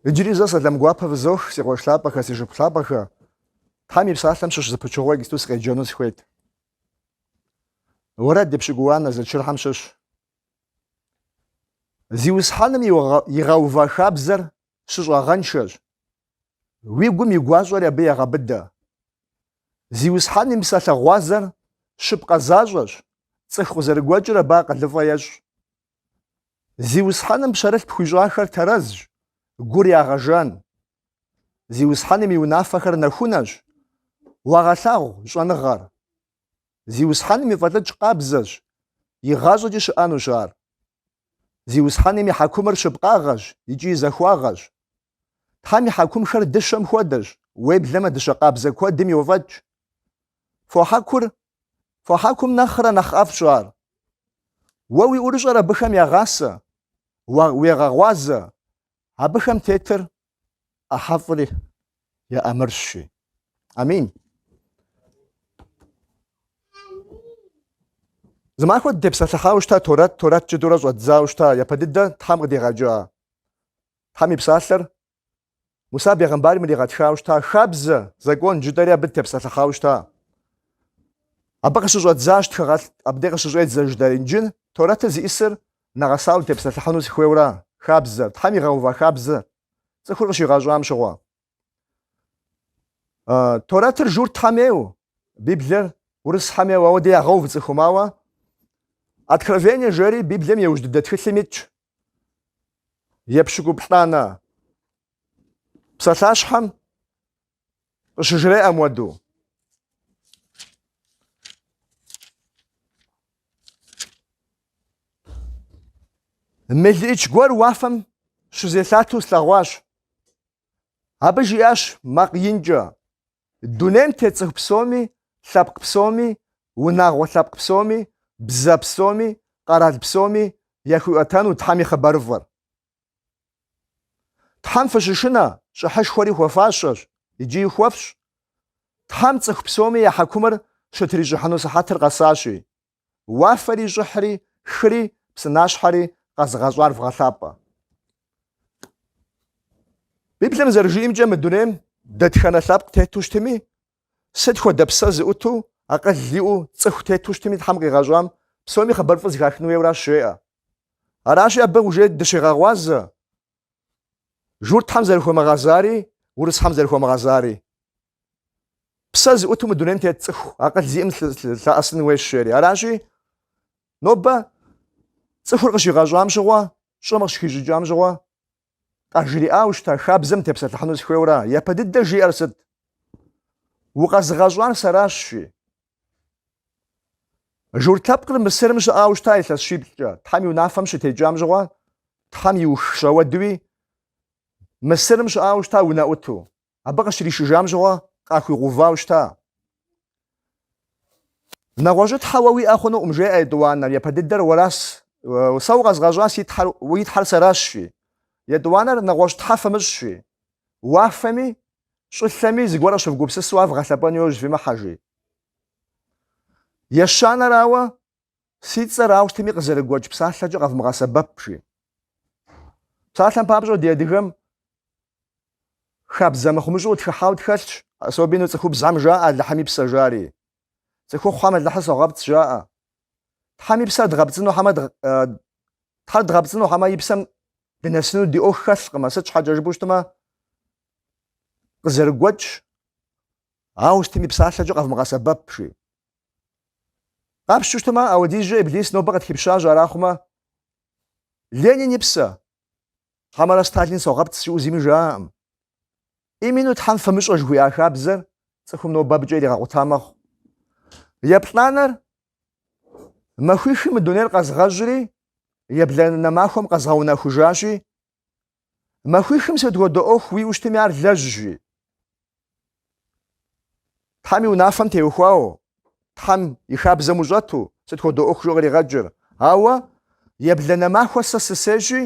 Иджыри зэ сэлам гуапэ фызох, си къуэш лъапӏэхэ, си шыпхъу лъапӏэхэ. Тхьэм и Псалъэм щыщ зы пычыгъуэ иджыпсту сыкъеджэну сыхуейт. Уэрэд епщыкӏубгъуанэ зэчырхэм щыщ. Зиусхьэным игъэува хабзэр щыщӏагъэншэщ. Уи гум и гуащӏэри абы егъэбыдэ. Зиусхьэн и псалъэ гъуазэр щыпкъэ защӏэщ, цӏыху къызэрыгуэкӏыр абы акъылыфӏэ ещӏ. Зиусхьэным пщэрылъ пхуищӏахэр тэрэзщ, гур ягъэжан. Зиусхьэным и унафэхэр нэхунэщ, уагъэлъагъу щӏэныгъэр. Зиусхьэным и фӏэлӏыкӏ къабзэщ, игъащӏэкӏи щыӏэнущ ар. Зиусхьэным и хьэкумыр щыпкъагъэщ икӏи захуагъэщ. Тхьэм и хьэкумхэр дыщэм хуэдэщ, уеблэмэ дыщэ къабзэ куэдым йофӏэкӏ. Фо хьэкур, фо хьэкум нэхърэ нэхъ ӏэфӏщ ар. Уэ уи ӏурыщӏэр абыхэм ягъасэ, уегъэгъуазэ, абыхэм тетыр ӏыхьэфӏыр еӏэмырщи. Амин. Зымахуэ дытепсэлъыхьауэ щыта Торэт, Торэт жытӏэурэ щӏэддзауэ щыта, япэ дыдэ Тхьэм къыдигъэкӏа Тхьэм и Псалъэр Муса бегъымбарым иригъэтхауэ щыта, хабзэ, закон жытӏэри абы дытепсэлъыхьауэ щыта. Абы къыщыщӏэдзащ тхыгъэлӏ, абдей къыщыщӏедзэ жытӏэ Инджыл, Торэтыр зищӏысыр нэгъэсауэ тепсэлъыхьыну сыхуейуэра, хабзэр, Тхьэм игъэува хабзэр, цӏыхур къыщигъэщӏам щыгъуэ. Торэтыр журт Тхьэм ейуэ, Библиер урыс Тхьэм ейуэ, ауэдэ ягъэув цӏыхум, ауэ. Откровение жери Библием иужь дыдэ тхылъым итщ, Епщыкӏуплӏанэ псалъащхьэм къыщыжреӏэ моуэдэу. Мелыӏыч гуэр уафэм щызелъату слъэгъуащ. Абы жиӏащ макъ инкӏэ, Дунейм тет цӏыху псоми, лъэпкъ псоми, унагъуэ лъэпкъ псоми, бзэ псоми, къэрал псоми яхуиӏуэтэну Тхьэм и хъыбарыфӏыр. Тхьэм фыщышынэ щӏыхьышхуэри хуэфащэщ икӏи хуэфщӏ. Тхьэм цӏыху псоми я хьэкумыр щытрищӏыхьыну сыхьэтыр къэсащи. Уафэри щӏылъэри, хыри, псынащхьэри къэзыгъэщӏар вгъэлъапӏэ. Библием зэрыжиӏэмкӏэ мы дунейм дэтхэнэ лъэпкъ тету щытми, сыт хуэдэ псэ зыӏуту, акъыл иӏэу, цӏыху тету щытми Тхьэм къигъэщӏам псоми хъыбарыфӏыр зэхахын хуейуэращ жеӏэ. Аращи, абы уже дыщегъэгъуазэ, Журтхэм зэрыхуэмыгъэзари, урысхэм зэрыхуэмыгъэзари. Псэ зыӏуту мы дунейм тет цӏыху, акъыл зиӏэм лъэӏэсын хуейщ жери. Аращи, нобэ цӏыхур къыщигъэщӏам щыгъуэ, щӏым къыщыхищӏыкӏам щыгъуэ, къажриӏауэ щыта хабзэм тепсэлъыхьыну сыхуейуэра? Япэ дыдэ жиӏэр сыт? Укъэзыгъэщӏар сэращ, жи. Журт лъэпкъыр Мысырым щыӏауэ щыта илъэс щиплӏкӏэ. Тхьэм и унафэм щытекӏам щыгъуэ, Тхьэм иух щэуэдуи, Мысырым щыӏауэ щыта унэӏуту. Абы къыщришыжам щыгъуэ, къахуигъэувауэ щыта. Нэгъуэщӏ Тхьэ уэ уиӏэ хъунукъым, жеӏэ етӏуанэр, япэ дыдэр уэрас, сэ укъэзгъэщӏа си Тхьэр, уи Тхьэр сэращ, жи. Етӏуанэр нэгъуэщӏ Тхьэ фымыщӏ, жи. Уафэми, щӏылъэми зыгуэр къыщывгупсысу ар вгъэлъэпӏэну яужь фимыхьэ, жи. Ещанэрауэ, си цӏэр ауэ сытми къызэрыгуэкӏ псалъэкӏэ къэвмыгъэсэбэп, жи. Псалъэм папщӏэ ди адыгэм хабзэ мыхъумыщӏэу къытхыхьауэ тхэлъщ, особенно цӏыхубзхэм жаӏэ Алыхьым и псэ жари. Цӏыхухъухэм Алыхьыр согъэпцӏ жаӏэ. Тхьэм и псэ, Тхьэр дгъэпцӏыну хьэмэ и псэм дынэсыну ди ӏуэху хэлъкъым, а сыт щхьэкӏэ жыпӏэу щытмэ, къызэрыгуэкӏ, ауэ сытми псалъэкӏэ къэвмыгъэсэбэп, жи. Къапщту щытмэ, апхуэдизкӏэ Иблис нобэ къытхипщащ, арахъумэ, Ленин и псэ, хьэмэрэ Сталин согъэпцӏ жиӏэу зыми жаӏэкъым. Именно Тхьэм фымыщӏэ жыхуиӏа хабзэр цӏыхум нобэ абыкӏэ иригъэкъута мэхъу. Еплӏанэр махуихым мы дунейр къэзгъэщӏри, ебланэ махуэм къэзгъэунэхужащи, Махуихым сыт хуэдэ ӏуэху уиӏэу щытми ар лэжь жи. Тхьэм и унафэм теухуауэ, Тхьэм и хабзэм ущӏэту сыт хуэдэ ӏуэху жиӏэу къригъэкӏыр. Ауэ ебланэ махуэ сэ сысейщ жи,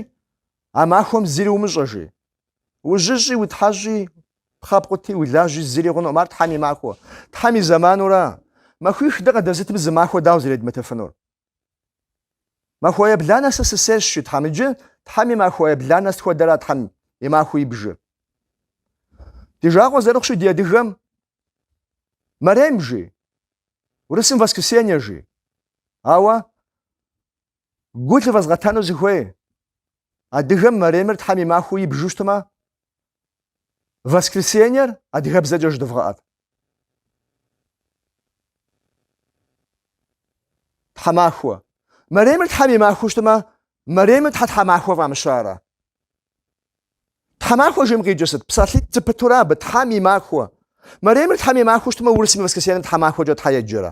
а махуэм зыри умыщӏэ жи. Ужьыщӏи, утхьэщӏи, пхъэ пкъути, улажьи зыри хъунукъым, ар Тхьэм и махуэ. Тхьэм и зэманура. Махуих дэ къыдэзытым зы махуэ дауэ зэредмытыфынур? Махуэ ебланэ сэ сысейщ, жи Тхьэм. Иджы Тхьэм и махуэ ебланэ сыт хуэдэра Тхьэм и махуэу ибжыр? Ди жагъуэ зэрыхъущи ди адыгэм Мэрем жи, урысым воскресенье жи. Ауэ гу лывэзгъэтэну сыхуей, адыгэм Мэремыр Тхьэм и махуэу ибжу щытмэ, Воскресеньер адыгэбзэкӏэ жыдывгъэӏэт. Тхьэмахуэ. Мэремыр Тхьэм и махуэу щытмэ, Мэремыр щхьэ тхьэмахуэ фӏамыщарэ? Тхьэмахуэ жиӏэм къикӏыр сыт? Псалъитӏ зэпытурэ абы Тхьэм и махуэ. Мэремыр Тхьэм и махуэу щытмэ, урысым и воскресеньем тхьэмахуэкӏэ щхьэ еджэрэ?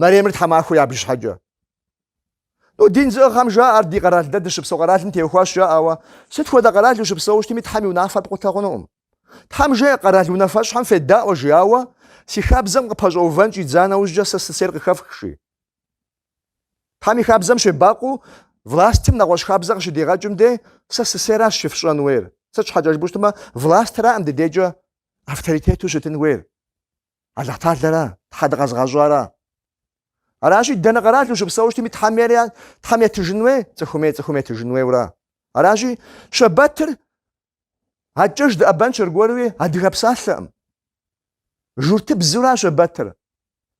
Мэремыр тхьэмахуэ ябж щхьэкӏэ. Ну, дин зыӏыгъхэм жаӏэр ди къэрал дэ дыщыпсэу къэралым теухуащ жаӏауэ, сыт хуэдэ къэрал ущыпсэу щытми Тхьэм и унафэр пкъутэ хъунукъым. Тхьэм жеӏэ къэрал унафэщӏхэм федаӏуэ жиӏауэ, си хабзэм къыпэщӏэувэн щӏидза нэужькӏэ сэ сысейр къыхэфх, жи. Тхьэм и хабзэм щебакъуэу властым нэгъуэщӏ хабзэ къыщыдигъэкӏым де сэ сысейращ щыфщӏэн уейр. Сыт щхьэкӏэ жыпӏэу щытмэ, властыракъым ди дейкӏэ авторитету щытын хуейр. Алыхьталэра? Тхьэ дыкъэзыгъэщӏара? Аращи, дэнэ къэрал ущыпсэу щытми Тхьэм ейр Тхьэм етыжын уей, цӏыхум ей цӏыхум етыжын уейура? Аращи, Щэбэтыр акӏыж дыӏэбэнщ аргуэруи адыгэ псалъэкъым. Журтыбзура Щэбэтыр?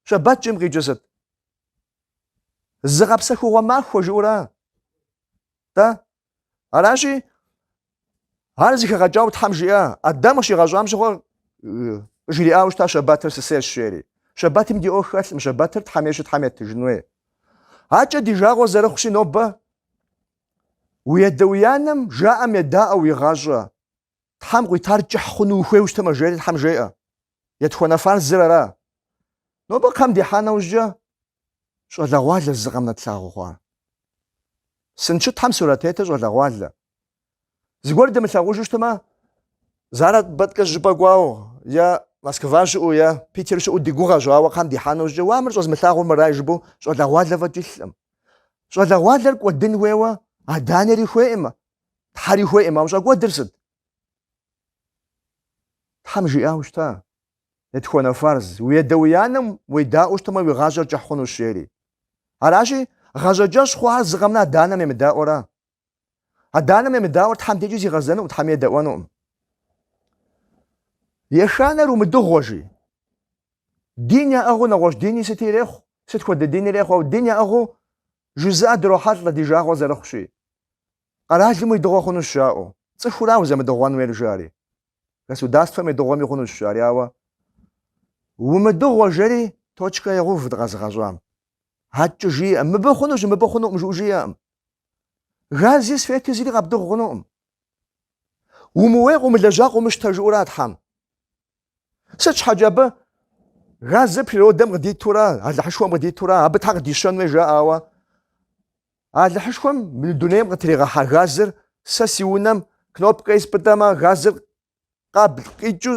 Щэбэт жиӏэм къикӏыр сыт? Зыгъэпсэхугъуэ махуэ жыӏура? Тэ Аращи, ар зыхэгъэкӏауэ Тхьэм жиӏа, Адэм къыщигъэщӏам щыгъуэ жриӏауэ щыта шэбатыр сысейщ жери. Шэбатым ди ӏуэху хэлъкъым, шэбатыр Тхьэм ейщи Тхьэм етыжын хуей. Акӏэ ди жагъуэ зэрыхъущи нобэ уи адэ уи анэм жаӏэм едаӏуэ уи гъащӏэ, Тхьэм къуитар кӏыхь хъуну ухуейуэ щытмэ, жери Тхьэм жеӏэ. Етхуэнэ фарзыр ара? Нобэ кхъэм дихьа нэужькӏэ щӏалэгъуалэщ зы къэмынэ тлъагъу хъуар. Сын щытхэм сурэт тетыр щӏалэгъуалэ. Зыгуэр дымылъагъужу щытмэ, заработкэ щӏыпӏэ кӏуау, е Москва щыӏу, е Питер щыӏу ди гугъэщ, ауэ кхъэм дихьа нэужькӏэ уа мыр щӏэзмылъагъур мырай жыпӏэу щӏалэгъуалэ фӏэкӏ илъкъым. Щӏалэгъуалэр кӏуэдын хуейуэ адэ-анэри хуейкъым, Тхьэри хуейкъым, ауэ щӏэкӏуэдыр сыт? Тхьэм жиӏауэ щыта, етхуэнэ фарз, уи адэ уи анэм уедаӏуэу щытмэ, уи гъащӏэр кӏыхь хъунущ, жери. Аращи, гъащӏэкӏэщӏ хъуар зы къэмынэ адэ-анэм емыдаӏуэра? Адэ-анэм емыдаӏуэр Тхьэм дежкӏи зигъэзэнукъым, Тхьэми едэӏуэнукъым. Ещанэр умыдыгъуэ, жи. Дин яӏыгъыу нэгъуэщӏ дини сыти ирехъу, сыт хуэдэ дин ирехъу, ауэ дин яӏыгъыу жызыӏэ дрохьэлӏэ ди жагъуэ зэрыхъущи. Къэралым уедыгъуэ хъунущ жаӏэу. Цӏыхура узэмыдыгъуэн уейр жари. Государствэм уедыгъуэми хъунущ жари, ауэ умыдыгъуэ жери точкэ егъув дыкъэзыгъэщӏам. Адкӏэ жиӏэкъым, мыбы хъунущ, мыбы хъунукъым жыӏэу жиӏэкъым. Гази, свети зыри къэбдыгъу хъунукъым. Умыуей къыумылэжьа къыумыщтэ жыӏэура Тхьэм. Сыт щхьэкӏэ абы газыр природэм къыдитура, Алыхьышхуэм къыдитура, абы щхьэ къыдищэн хуей жаӏауэ. Алыхьышхуэм мы дунейм къытригъэхьа газыр сэ си унэм кнопкэр спӏытӏэмэ, газыр къабл къикӏыу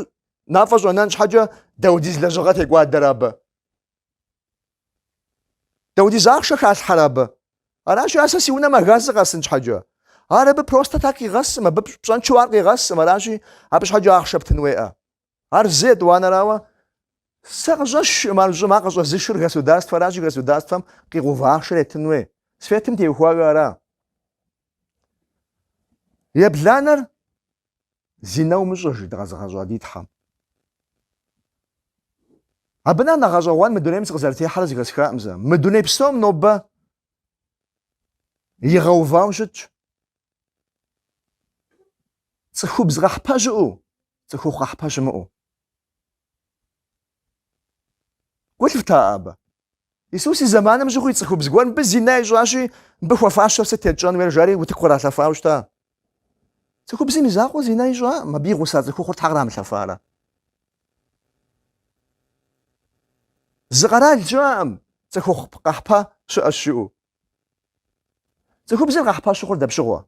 мафӏэ щӏэнэн щхьэкӏэ дауэдиз лэжьыгъэ текӏуадэрэ абы. Даудиз ахъшэ халъхьэрэ абы? Аращи, ар сэ си унэм а газыр къэсын щхьэкӏэ. Ар абы просто так къигъэсым, абы пщӏэнчэу ар къигъэсым, аращи, абы щхьэкӏэ ахъшэ птын хуеӏэ. Ар зы, етӏуанэрауэ, сэ къыщӏэсшӏым ар щӏым, ар къыщӏэзышыр государствэ аращи, государствэм къигъэува ахъшэр етын хуей. Светым теухуауэ ара? Ебланэр Зинэ умыщӏэ, жи дыкъэзыгъэщӏа ди Тхьэм. Абы нэхъ нэхъ гъэщӏэгъуэн мы дунейм сыкъызэрытехьэрэ зыхэсхакъым сэ. Мы дуней псом нобэ игъэувауэ щытщ. Цӏыхубз къэхьпэ щыӏэу, цӏыхухъу къэхьпэ щымыӏэу. Гу лъыфта абы? Исус и зэманым щыгъуи цӏыхубз гуэр мыбы зинэ ищӏащи, мыбы хуэфащэр сыт етщӏэн хуейр жари утыку къралъэфауэ щыта? Цӏыхубзым и закъуэ зинэ ищӏакъым, абы и гъуса цӏыхухъур щхьэ кърамылъэфарэ? Зы къэрал щыӏэкъым цӏыхухъу къэхьпэ щыӏэщ жыӏэу. Цӏыхубзыр къэхьпэ щыхъур дапщыгъуэ?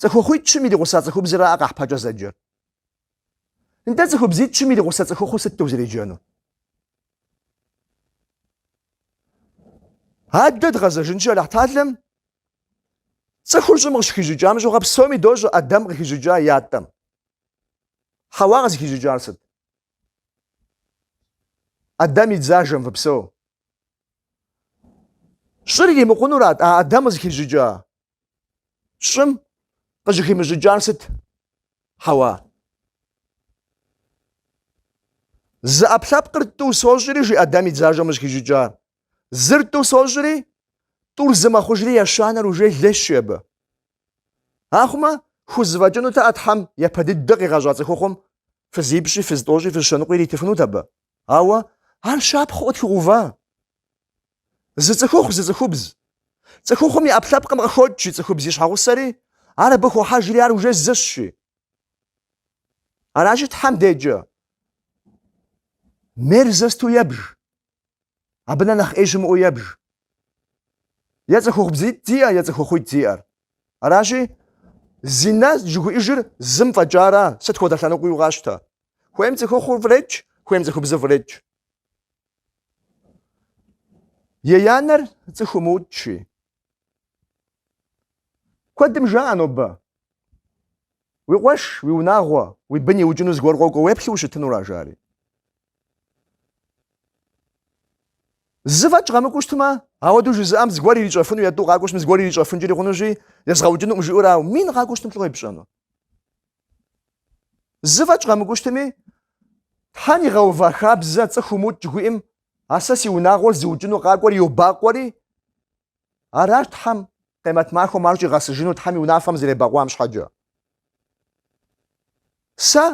Цӏыхухъуитӏ-щым иригъуса цӏыхубзыракъэ къэхьпэкӏэ зэджэр. Нтӏэ цӏыхубзитӏ-щым иригъусэ цӏыхухъу сыт узэреджэну? Адэ дгъэзэжынщи Алыхьталэм цӏыхур щӏым къыщыхищӏыкӏам щыгъуэ псоми дощӏэ Адэм къыхищӏыкӏа ятӏэм. Хьэуа къызыхищӏыкӏар сыт? Адэм и дзажэм фыпсэу. Щӏыр иримыкъунурат а Адэм къызыхищӏыкӏа Щӏым къыщӏыхимыщӏыкӏар сыт Хьэуа? Зы ӏэпкълъэпкъыр тӏу сощӏри, жи Адэм и дзажэм къыщӏыхищӏыкӏар. Зыр тӏу сощӏри, тӏур зы мэхъужри ещанэр уже лейщи абы. Ахъумэ, хузэфӏэкӏынут а Тхьэм япэ дыдэ къигъэщӏа цӏыхухъум фызипщӏи, фызтӏощӏи, фызщэныкъуи иритыфынут абы. Ауэ ар щапхъэу къытхуигъэува? Зы цӏыхухъу, зы цӏыхубз. Цӏыхухъум и ӏэпкълъэпкъым къыхокӏ и цӏыхубз и щхьэгъусэри, ар абы хохьэжри ар уже зыщи. Аращи Тхьэм деджэ. Мерзосту ебж. Абы нэ нэхъ ӏей щымыӏэу ебж. Е цӏыхухъубзитӏ зиӏэ, е цӏыхухъуитӏ зиӏэр. Аращи, зинэ жыхуиӏэжыр зым фӏэкӏара, сыт хуэдэ лъэныкъуэу къащтэ. Хуейм цӏыхухъур фӏредж, хуейм цӏыхубзыр фӏредж. Еянэр цӏыху умыукӏщи. Куэдым жаӏэ нобэ. Уи къуэш, уи унагъуэ, уи бын иукӏыну зыгуэр къокӏуэ уеплъу ущытынура, жари. Зы фӏэкӏ къэмыкӏуэу щытмэ, ауэдэу жызыӏэм зыгуэр ирищӏэфыну е тӏу къакӏуэщтми, зыгуэр ирищӏэфынкӏэри хъунущи, езгъэукӏынукъым жиӏэурау, мин къакӏуэщтым лӏо епщӏэну. Зы фӏэкӏ къэмыкӏуэу щытми, Тхьэм игъэува хабзэ цӏыху умыукӏ жыхуиӏэм, ар сэ си унагъуэр зыукӏыну къакӏуэр йобакъуэри, аращ Тхьэм къемэт махуэм ар щӏигъэсыжыну Тхьэм и унафэм зэребэкъуам щхьэкӏэ. Сэ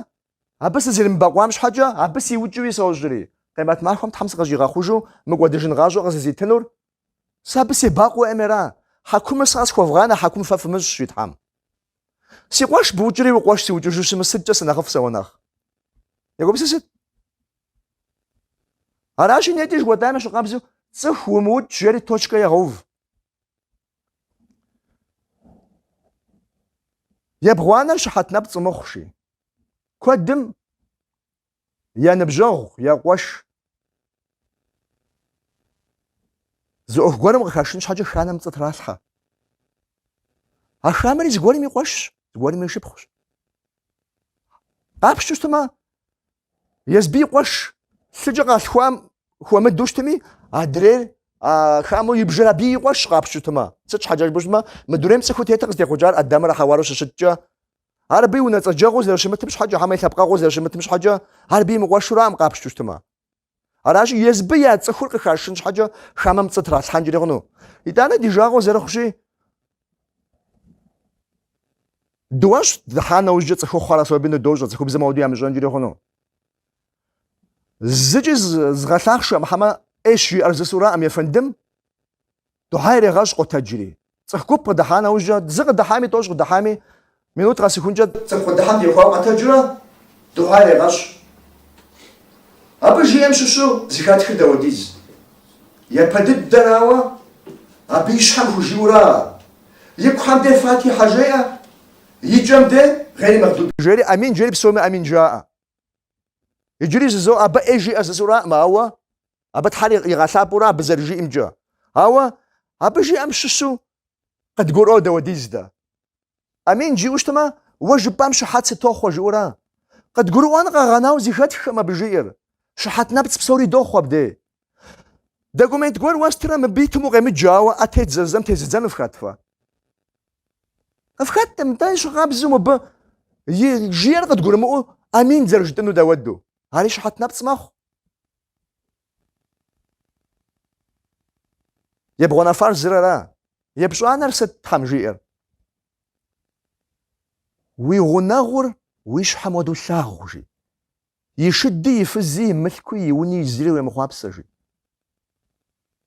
абы сызэремыбэкъуам щхьэкӏэ, абы сиукӏыуи сощӏри, къемэт махуэм Тхьэм сыкъыщӏигъэхъужу мыкӏуэдыжын гъащӏэ къызызитынур Сэ абы себакъуэ уеӏэмера? Хьэкумыр сэ къэсхуэвгъанэ, хьэкум фэ фымыщӏ жи Тхьэм. Си къуэш букӏри уи къуэш сыукӏыжу щытмэ сыткӏэ сынэхъыфӏ сэ уэ нэхъ? Егупсысыт. Аращи, нетӏэ жыхуэтӏам ещхькъабзэу цӏыху умыукӏ жери точкэ егъэув. Ебгъуанэр щыхьэт нэпцӏ умыхъу жи. Куэдым я ныбжьэгъу, я къуэш. Зы ӏуэху гуэрым къыхашын щхьэкӏэ хамэм пцӏы тралъхьэ. А хамэри зыгуэрым и къуэшщ, зыгуэрым и шыпхъущ къапщтэу щытмэ, Езбы и къуэш лъыкӏэ къалъхуам хуэмыдэу щытми, адрейр хамэу ибжыр абы и къуэшщ къапщтэу щытмэ. Сыт щхьэкӏэ жыпӏэу щытмэ, мы дунейм цӏыхуу тетыр къызытехъукӏар Адамрэ Хьэуарэу щыщыткӏэ Ар абы и унэцӏэджэгъуу зэрыщымытым щхьэкӏэ, хьэмэ и лъэпкъэгъуэу зэрыщымытым щхьэкӏэ, ар абы и мыкъуэшуракъым къапщту щытмэ. Аращи, езбы я цӏыхур къыхашын щхьэкӏэ хамэм пцӏы тралъхьэнкӏри хъуну. Итӏанэ ди жагъуэ зэрыхъущи, дыуэщӏ дыхьа нэужькӏэ цӏыхухъухэр особенно дощӏэ, цӏыхубзхэм ауэду ямыщӏэнкӏри хъуну. Зыкӏи згъэлъахъшэм, хьэмэ ӏейщ жиӏэр жысӏураӏым ефэндым, Духьэ ирегъэщӏ къотэджри. Цӏыху гуп къыдыхьа нэужькӏэ, зы къыдыхьами, тӏощӏ къыдыхьами, минут къэсыхункӏэ. Цӏыху къыдыхьэм техуауэ къэтэджурэ духьэ ирегъэщӏ. Абы жиӏэм щыщу зы хатхыр дауэдиз? Япэ дыдэрауэ, абы и щхьэм хужиӏэура? И кухэм де Фатихьэ жеӏэ, и кӏэм де Гъейри Мэгъдуби жери, амин жери, псоми амин жаӏэ. Иджыри жызоӏэ, абы ӏей жиӏэр жысӏураӏым, ауэ. Абы Тхьэр игъэлъапӏэурэ абы зэрыжиӏэмкӏэ. Ауэ абы жиӏэм щыщу къыдгурыӏуэу дауэдиз дэ? Амин жиӏэу щытмэ, уэ жыпӏам щыхьэт сытохъуэ жиӏэура. Къыдгурыӏуэн къэгъэнауэ зыхэтххэм абы жиӏэр, щыхьэт нэпцӏ псори дохъуэ абдей. Документ гуэр уэстурэ мыбы итым укъемыджэ, ауэ ӏэ тедзэ жысӏэм тезыдзэну фхэт фэ? Фхэтӏым, ещхькъабзэу мыбы жиӏэр къыдгурымыӏуэу амин зэрыжытӏыну дауэду. Ари щыхьэт нэпцӏ мэхъу. Ебгъуанэ фарзыр ара? Епщӏанэр сыт Тхьэм жиӏэр? Уи гъунэгъур уи щхьэм уэдэу лъагъу, жи. И шыди, и фызи, и мылъкуи, и уни зыри уемыхъуапсэ, жи.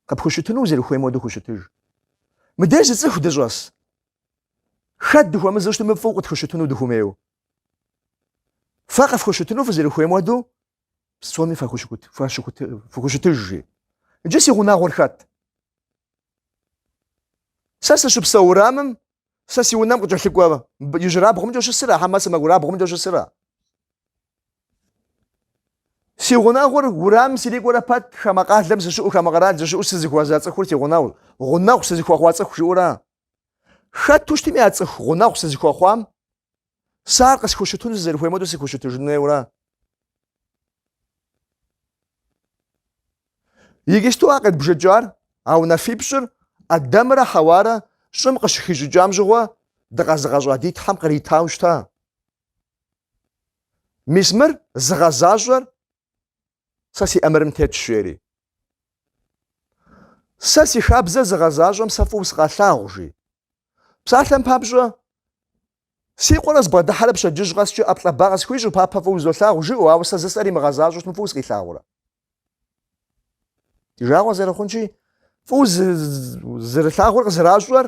Къыпхущытыну узэрыхуейм уэдэу хущытыж. Мыдеж зы цӏыху дыщӏэс. Хэт дыхуэмызэу щытми, мыфӏыу къытхущытыну дыхуэмейуэ. Фэ къыфхущытыну фызэрыхуейм уэдэу Псоми фэхущыкут, фэщыкут, фыхущытыж, жи. Иджы си гъунэгъур хэт? Сэ сыщыпсэу урамым, сэ си унэм къыкӏэлъыкӏуэ ижьырабгъумкӏэ щысыра, хьэмэ сэмэгурабгъумкӏэ щысыра? Си гъунэгъур урамым сирикӏуэрэ пэт хамэ къалэм сыщыӏу, хамэ къэрал сыщыӏу сызыхуэза цӏыхур си гъунэгъур, гъунэгъу сызыхуэхъуа цӏыху жиӏэура? Хэту щытми а цӏыху гъунэгъу сызыхуэхъуам Сэ ар къысхущытыну сызэрыхуейм хуэдэу сыхущытыжын хуейура. Иджыпсту а къедбжэкӏар, а унафипщӏыр Адэмрэ Хьэуарэ щӏым къыщыхищӏыкӏам щыгъуэ дыкъэзыгъэщӏа ди Тхьэм къритау щыта. Мис мыр зыгъэзащӏэр Сэ си ӏэмырым тетщ, жери. Сэ си хабзэр зыгъэзащӏэм сэ фӏыуэ сыкъелъагъу, жи. Псалъэм папщӏэ, си къуэр къызбгъэдыхьэрэ пщэдджыжь къэскӏэ ӏэплӏэ, ба къысхуищӏу, папэ фӏыуэ узолъагъу, жиӏэу, ауэ сэ жысӏэр имыгъэзащӏэщтмэ фӏыуэ сыкъилъагъурэ. Ди жагъуэ зэрыхъунщи, фӏыуэ узэрилъагъур къызэращӏэр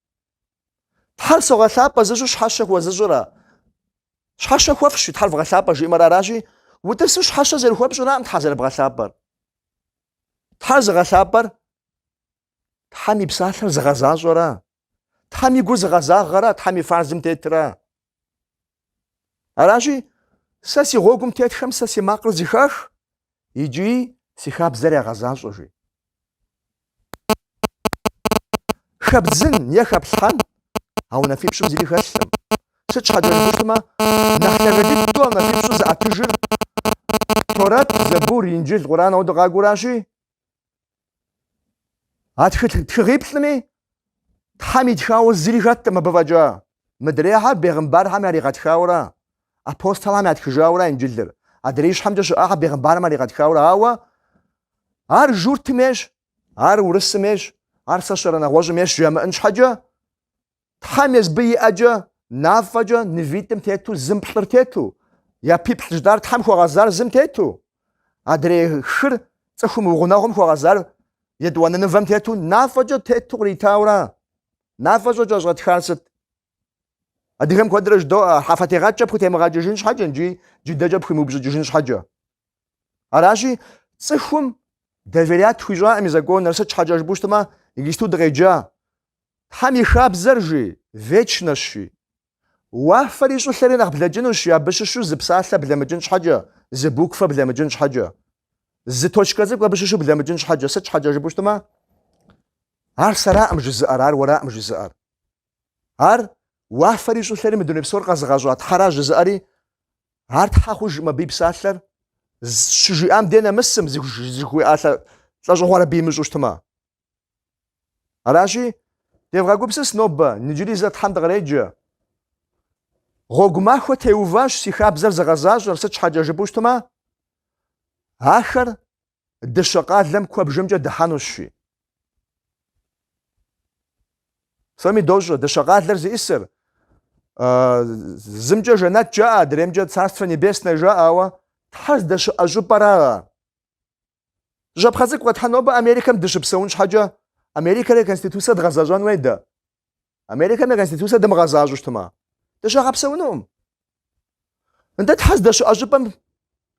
Тхьэр согъэлъапӏэ жызыӏэу щхьэщэ хуэзыщӏыра? Щхьэщэ хуэфщӏи, Тхьэр вгъэлъапӏэ жиӏэмэр аращи, утӏысу щхьэщэ зэрыхуэпщӏыраӏым Тхьэр зэрыбгъэлъапӏэр. Тхьэр зыгъэлъапӏэр Тхьэм и псалъэр зыгъэзащӏэрэ? Тхьэм и гур зыгъэзагъэрэ? Тхьэм и фарзым тетрэ? Аращи, сэ си гъуэгум тетхэм сэ си макъыр зыхах икӏи си хабзэр ягъэзащӏэ, жи. Хэбдзын е хэплъхьэн а унафипщӏым зыри хэлъӏым. Сыт щхьэкӏэ жыпӏэщтмэ, нэхъ лъагэ дыдэу а унафипщӏыр зыӏэтыжыр Торэт, Зэбур, Инджыл, Къуран ауэдэ къакӏуэращи, А тхылъ тхыгъиплӏми Тхьэм итхауэ зыри хэтӏым абы фӏэкӏа. Мыдрейхьэр бегъымбархэм яригъэтхаурэ, апостолхэм ятхыжаура Инджылыр. Адрей ищхьэмкӏэ щыӏахьэр бегъымбархэм яригъэтхаурэ, ауэ ар журтым ейщ, ар урысым ейщ, ар сэ сщӏэрэ нэгъуэщӏым ейщ жамыӏын щхьэкӏэ, Тхьэм езбы и ӏэкӏэ, мафӏэкӏэ, мывитӏым тету, зым плӏыр тету, япиплӏ жытӏар Тхьэм хуэгъэзар зым тету, адрей хыр цӏыхум и гъунэгъум хуэгъэзар етӏуанэ мывэм тету, мафӏэкӏэ тету къритаура? Мафӏэкӏэ кӏэщӏэтхар сыт? Адыгэм куэдрэ жыдоӏэ, а хьэфэтегъэкӏкӏэ пхутемыгъэкӏыжын щхьэкӏэ икӏи джыдэкӏэ пхуимыупщӏыкӏыжын щхьэкӏэ. Аращи, цӏыхум доверять хуищӏакъым и законыр, сыт щхьэкӏэ жыпӏэу щытмэ, иджысту дыкъеджа, Тхьэм и хабзэр, жи, вечнэщ, жи. Уафэри щӏылъэри нэхъ блэкӏынущ, жи, абы щыщу зы псалъэ блэмыкӏын щхьэкӏэ, зы буквэ блэмыкӏын щхьэкӏэ, зы точкэ цӏыкӏу абы щыщу блэмыкӏын щхьэкӏэ. Сыт щхьэкӏэ жыпӏэу щытмэ, ар сэраӏым жызыӏэр, ар уэраӏым жызыӏэр. Ар уафэри щӏылъэри мы дуней псор къэзыгъэщӏа Тхьэра жызыӏэри, ар Тхьэ хъужыӏым абы и псалъэр, щыжиӏам дей нэмысым, зыхуиӏа лӏэщӏыгъуэр абы имыщӏэу щытмэ. Аращи, девгъэгупсыс нобэ, иджыри зэ Тхьэм дыкъреджэ. Гъуэгу махуэ теуващ си хабзэр зыгъэзащӏэр, сыт щхьэкӏэ жыпӏэу щытмэ, ахэр дыщэ къалэм куэбжэмкӏэ дыхьэнущ, жи. Псоми дощӏэ, дыщэ къалэр зиӏисыр, зымкӏэ жэнэт жаӏэ, адреймкӏэ Царство Небесное жаӏэ, ауэ Тхьэр здэщыӏэ щӏыпӏэракъэ. Зы щапхъэ цӏыкӏу къэтхьэн, нобэ Америкэм дыщыпсэун щхьэкӏэ, Америкэм я Конституцэр дгъэзэщӏэн уей дэ? Америкэм я Конституцэр дымыгъэзащӏэу щытмэ, дыщагъэпсэунукъым. Нтӏэ Тхьэ здэщыӏэ щӏыпӏэм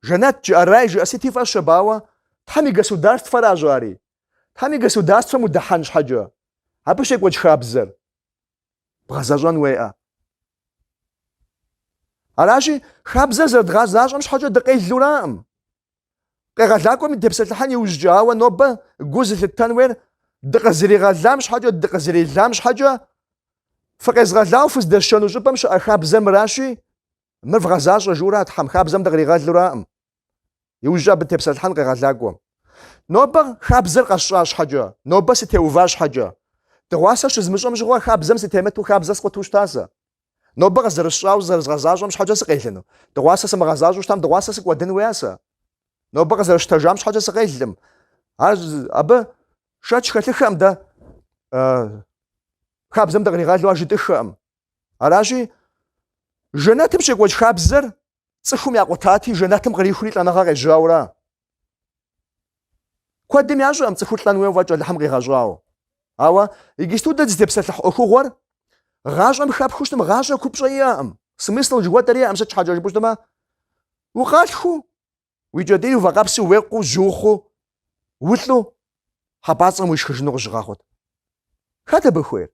Жэнэт жыӏэ, рай жыӏэ сыти фӏэщ абы, ауэ, Тхьэм и государствэращ ари. Тхьэм и государствэм удыхьэн щхьэкӏэ, абы щекӏуэкӏ хабзэр. бгъэзэщӏэн уеӏэ. Аращи, хабзэр зэрыдгъэзащӏэм щхьэкӏэ дыкъелураӏым. Къегъэлакӏуэми депсэлъыхьэн иужькӏэ, ауэ нобэ гу зылъыттэн уейр дыкъызэригъэлам щхьэкӏэ, дыкъызэрелам щхьэкӏэ, фыкъезгъэлауэ фыздэсшэну щӏыпӏэм щыӏэ хабзэр мыращи, Мыр вгъэзащӏэ жиӏэура Тхьэм хабзэм дыкъригъэлуракъым. Иужькӏэ абы дытепсэлъхьэн къегъэлакӏуэм. Нобэ хабзэр къэсщӏа щхьэкӏэ, нобэ сытеува щхьэкӏэ. Дыгъуасэ щызмыщӏэм щыгъуэ хабзэм сытемыту хабзэ скъуту щыта сэ? Нобэ къызэрысщӏауэ зэрызгъэзащӏэм щхьэкӏэ сыкъелыну? Дыгъуасэ сымыгъэзащӏэу щытам дыгъуасэ сыкӏуэдын уеа сэ? Нобэ къызэрысщтэжам щхьэкӏэ сыкъелын? Ар абы шэч хэлъыххэкъым дэ хабзэм дыкъригъэлу ар жытӏыххэкъым. Аращи, жэнэтым щекӏуэкӏ хабзэр цӏыхум якъутати, жэнэтым кърихури лӏэныгъэр къежьаура. Куэдым ящӏэкъым цӏыхур лӏэн хуейуэ фӏэкӏ Алыхьым къигъэщӏауэ. Ауэ иджысту дэ дызытепсэлъыхь ӏуэхугъуэр гъащӏэм хэпхыу щытым, гъащӏэ купщӏэ иӏэкъым, смысл жыхуэтӏэр иӏэкъым, сыт щхьэкӏэ жыпӏэу щытмэ, укъалъхуу Уи кӏэтӏийр уи вакъэпсу, уекъуу, жьухъуу, улӏу хьэпӏацӏэм уишхыжыну къызыщыгъэхъут. Хэт абы хуейр?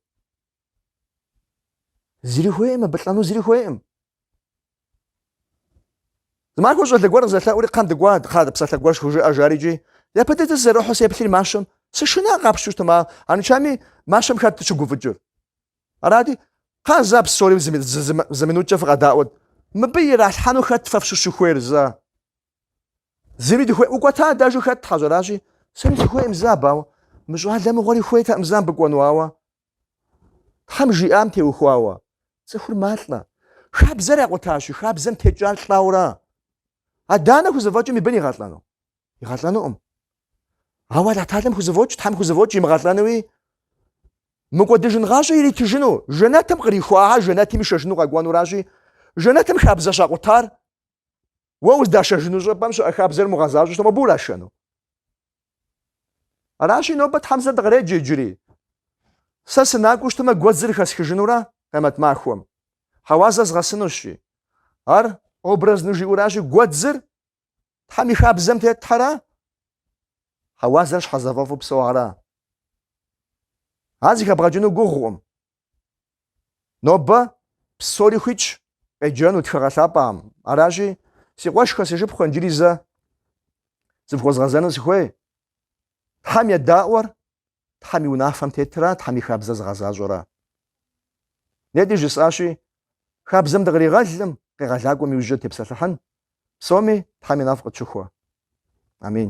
Зыри хуейкъым, абы лӏэну зыри хуейкъым. Зымахуэ щӏалэ гуэр къызэлъэӏури кхъэм дыкӏуа, кхъа псалъэ гуэр схужыӏэ жари джи. Япэ дыдэ сызэрихьу сеплъри мащэм. Сышына, къапщту щытмэ, арыншами мащэм хэт щыгуфӏыкӏыр? Арати, Кхъа зэ псори зы минуткӏэ фыкъэдаӏуэт. Мыбы иралъхьэну хэт фэ фщыщу хуейр зэ? Зыри дыхуейкъым. Укӏуэта адэжу хэт тхьэщӏ аращи, сэри сыхуейкъым зэ абы. Ауэ мы щӏалэ мыгъуэри хуейтэкъым зэ мыбы кӏуэну, ауэ Тхьэм жиӏам теухуауэ, цӏыхур малӏэ. Хабзэр якъутащи, хабзэм текӏар лӏэура? Адэ-анэ хузэфӏэкӏмэ и бын игъэлӏэну? Игъэлӏэнукъым. Ауэ Алыхьталэм хузэфӏокӏ, Тхьэм хузэфӏокӏ имыгъэлӏэнуи, мыкӏуэдыжын гъащӏэ иритыжыну, жэнэтым кърихуа, жэнэтым ишэжыну къэкӏуэнуращи, жэнэтым хабзэ щакъутар, уэ уздашэжыну щӏыпӏэм щыӏэ хабзэр мугъэзащӏэу щытмэ, абы урашэну. Аращи, нобэ Тхьэм зэ дыкъреджэ иджыри. Сэ сынакӏуэу щытмэ, гуэдзыр хэсхыжынура къемэт махуэм. Хьэуазэ згъэсынущ жи. Ар образну жиӏуращи, гуэдзыр Тхьэм и хабзэм тетхэра? Хьэуазэр щхьэзыфӏэфӏу псэуара? Ар зыхэбгъэкӏыну гугъукъым. Нобэ псори хуитщ къеджэну тхыгъэ лъапӏэм. Аращи, си къуэшхэ, си шыпхъухэ, иджыри зэ зыфхуэзгъэзэну сыхуей. Тхьэм едаӏуэр Тхьэм и унафэм тетра, Тхьэм и хабзэр зыгъэзащӏэра? Нетӏи жысӏащи, хабзэм дыкъригъэлкъым, къегъэлакӏуэм иужькӏэ дытепсэлъыхьын, псоми Тхьэм и нэфӏ къытщыхуэ. Амин.